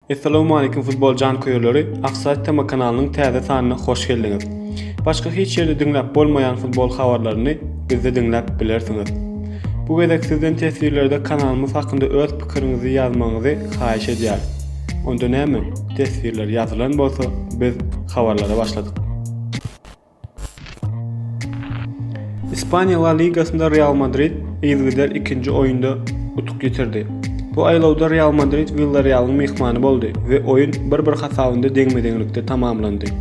Essalawmalikim futbol janköýerleri Offside tema kanalynyň täze sanyna hoş geldiňiz. Başga hiç ýerde diňläp bolmaýan futbol habarlaryny bizde diňläp bilersiňiz. Bu gezek sizden teswirlerde kanalymyz hakynda öz pikiriňizi ýazmagyňyzy haýyş edýäris. Onda näme, teswirler ýazylan bolsa biz habarlara başladyk. Ispaniýa La Ligasynda Real Madrid yzygider ikinji oýunda utuk ýitirdi. Bu aýlawda Real Madrid Willarealyň myhmany boldy we oýun bir-bir hasabynda deňme-deňlikde tamamlandy.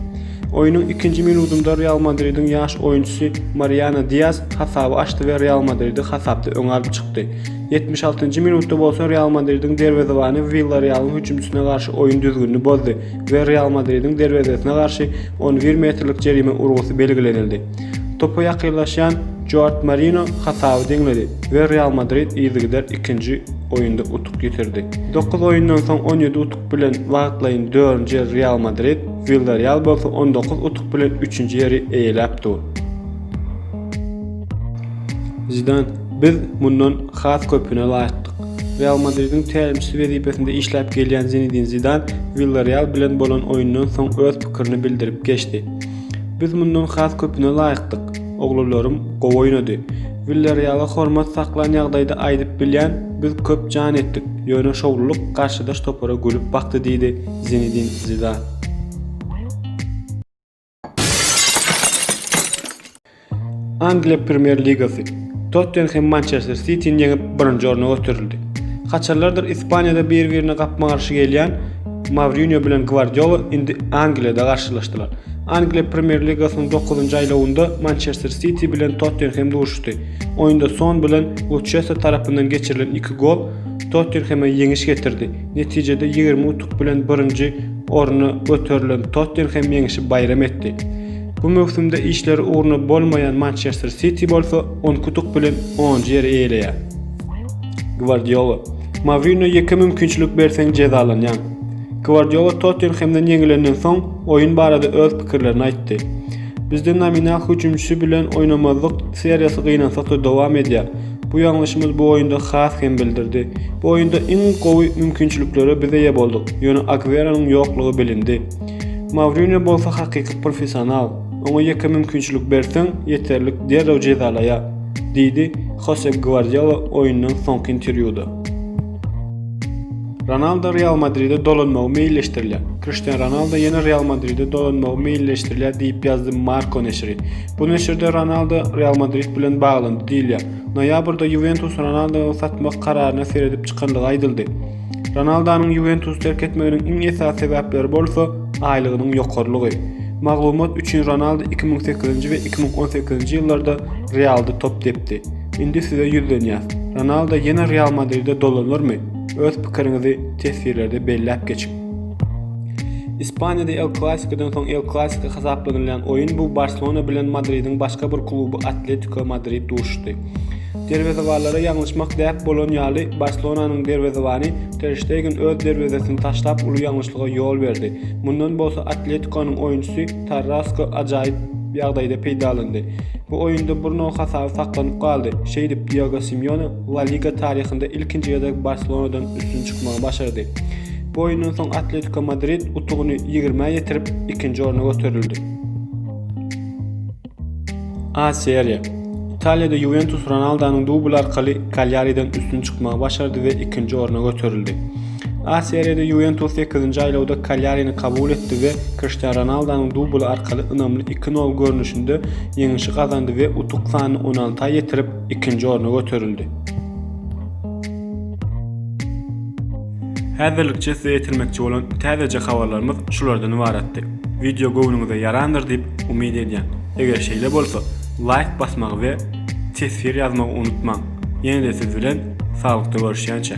Oýnuň ikinji minudynda Real Madridiň ýaş oýunçysy Mariano Diaz hasaby açdy we Real Madridi hasapda öňe alyp çykdy. Ýetmiş altynjy minutda bolsa Real Madridiň derwezebany Willarealyň hüjümçisyna garşy oýun düzgünini bozdy we Real Madridiň derwezesine garşy on bir metrlik jerime urgusy belgilenildi. Topa ýakynlaşýan Joart Marino hasaby deňledi we Real Madrid yzygider ikinji oýunda utuk ýitirdi. Dokuz oýundan soň on ýedi utuk bilen wagtlaýyn dördünji ýer Real Madrid, Willarreal bolsa on dokuz utuk bilen üçünji ýeri eýeläp dur. Zidan, Biz mundan has köpüne laýykdyk. Real Madridiň tälimçisi wezipesinde işläp gelýän Zinedin Zidan Willareal bilen bolan oýundan soň öz pikirini bildirip geçdi. Biz mundan has köpüne laýykdyk. Oglanlarym gowy oýnady. Willareala hormat saklan ýagdaýda aýdyp bilýän, biz köp jan etdik, ýöne şowlulyk garşydaş topara gülüp bakdy diýdi Zinedin Zidan. Angliýa Premýer Ligasy. Tottenhem Mançester Sitini ýeňip, birinji orna göterildi. Haçanlardyr Ispaniýada bir-birine gapma-garşy gelýän Mourinýo bilen Gwardiola indi Angliýada garşylaşdylar. Angliýa Premýer Ligasynyň dokuzynjy aýlawynda Mançester Siti bilen Tottenhem duşuşdy. Oýunda Son bilen Luçesso tarapyndan geçirilen iki gol Tottenheme ýeňiş getirdi. Netijede ýigrimi utuk bilen birinji orna göterilen Tottenhem ýeňişi baýram etdi. Bu möwsümde işleri ugruna bolmaýan Mançester Siti bolsa on iki utuk bilen onunjy ýeri eýeleýär. Gwardiola, Mourinýo ýeke mümkinçilik berseň jezalanýaň. Gwardiola Tottenhemden ýeňilenden soň oýun barada öz pikirlerini aýtdy. Bizde nominal hüjümçi bilen oýnamazlyk seriýasy gynansak-da dowam edýär. Bu ýalňyşymyz bu oýunda has hem bildirdi. Bu oýunda iň gowy mümkinçiliklere biz eýe bolduk, ýöne Agweronyň ýoklugy bilindi. Mourinýo bolsa hakyky professional, oňa ýeke mümkinçilik berseň, ýeterlik derrew jezalaýar, diýdi Hosep Gwardiola oýundan soňky interwýuda. Ronaldo Real Madride dolanmagy meýilleşdirilýär. Kriştian Ronaldo ýene Real Madride dolanmagy meýilleşdirilýär diýip ýazdy Marca neşiri. Bu neşirde Ronaldo Real Madrid bilen baglandy diýilýär. Noýabrda Ýuwentus Ronaldowy satmak kararyna seredip çykandygy aýdyldy. Ronaldonyň Ýuwentusy terk etmeginiň iň esasy sebäpleri bolsa, aýlygynyň ýokarylygy. Maglumat üçin Ronaldo iki müň sekizinji we iki müň on sekizinji ýyllarda Realda top depdi. Indi size ýüzlenýäs. Ronaldo ýene Real Madride dolanarmy? Öz pikiriňizi teswirlerde belläp geçiň. Ispaniýada El Klasikodan soň El Klasiko hasaplanylýan oýun bu Barselona bilen Madridiň başga bir kluby Atletiko Madrid duşuşdy. Derwezewanlara ýalňyşmak däp bolan ýaly, Barselonanyň derwezewany Ter Ştegen öz derwezesini taşlap uly ýalňyşlyga ýol berdi. Mundan bolsa Atletikonyň oýunçysy Karrasko ajaýyp ýagdaýda peýdalandy. Bu oýunda Bruno hasaby saklanyp galdy, şeýdip Diego Simeone La Liga taryhynda ilkinji gezek Barselonadan üstün çykmagy başardy. Bu oýundan soň Atletiko Madrid utugyny ýigrimi ýetirip, ikinji orna göterildi. A Seriýa. Italiýada Ýuwentus Ronaldonyň dubly arkaly Kalýariden üstün çykmagy başardy we ikinji orna göterildi. A Seriýada Ýuwentus sekizinji aýlawda Kalýarini kabul etdi we Kriştian Ronaldonyň dubly arkaly ynamly iki nol görnüşinde ýeňişi gazandy we utuk sanyny on alta ýetirip, ikinji orna göterildi. Häzirlikçe size ýetirmekçi bolan täzeje habarlarymyz şulardan ybaratdy. Wideo göwnüňize ýarandyr diýip umyt edýän. Eger şeýle bolsa, laýk basmagy we teswir ýazmagy unutmaň. Ýene-de siz bilen saglykda görüşýänçä.